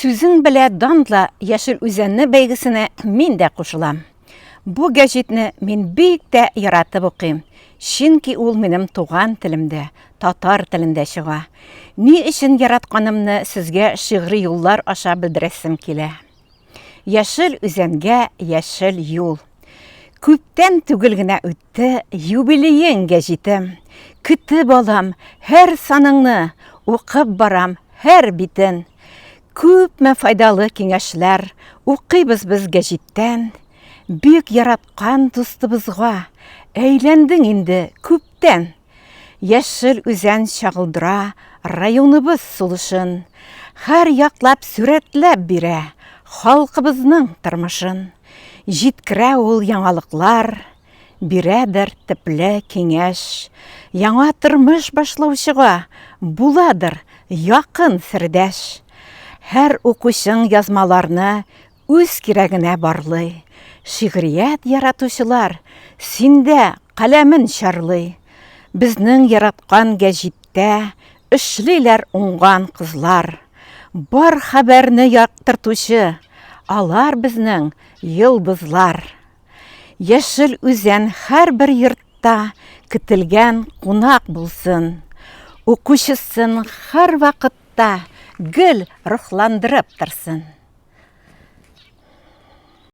Сүзең белә данла Яшел үзәнне бәйгесенә мин дә кушылам. Бу гәҗитне мин бик тә яратып укыйм, чөнки ул минем туган телемдә, татар телендә чыга. Ни өчен яратканымны сезгә шигъри юллар аша белдерәсем килә. Яшел үзәнгә яшел юл. Күптән түгел генә үтте юбилеең гәҗитем. Көтеп алам һәр саныңны, укып барам һәр битен. Күпме файдалы киңәшләр укыйбыз без гәҗиттән. Бик яраткан дустыбызга әйләндең инде күптән. Яшел үзән чагылдыра районыбыз сулышын, Хәр яклап сүрәтләп бирә халкыбызның тормышын. Җиткерә ул яңалыклар, бирәдер тепле киңәш. Яңа тормыш башлаучыга буладыр якын сердәш. Һәр укучың язмаларны Үз кирәгенә барлый. Шигърият яратучылар, синдә каләмен чарлый. Безнең яраткан гәҗиттә эшлиләр уңган кызлар. Бар хәбәрне яктыртучы, алар безнең йолдызлар. Яшел Үзән һәрбер йортта көтелгән кунак булсын. Укучысын һәрвакыт хакта гел рухландырып торсын!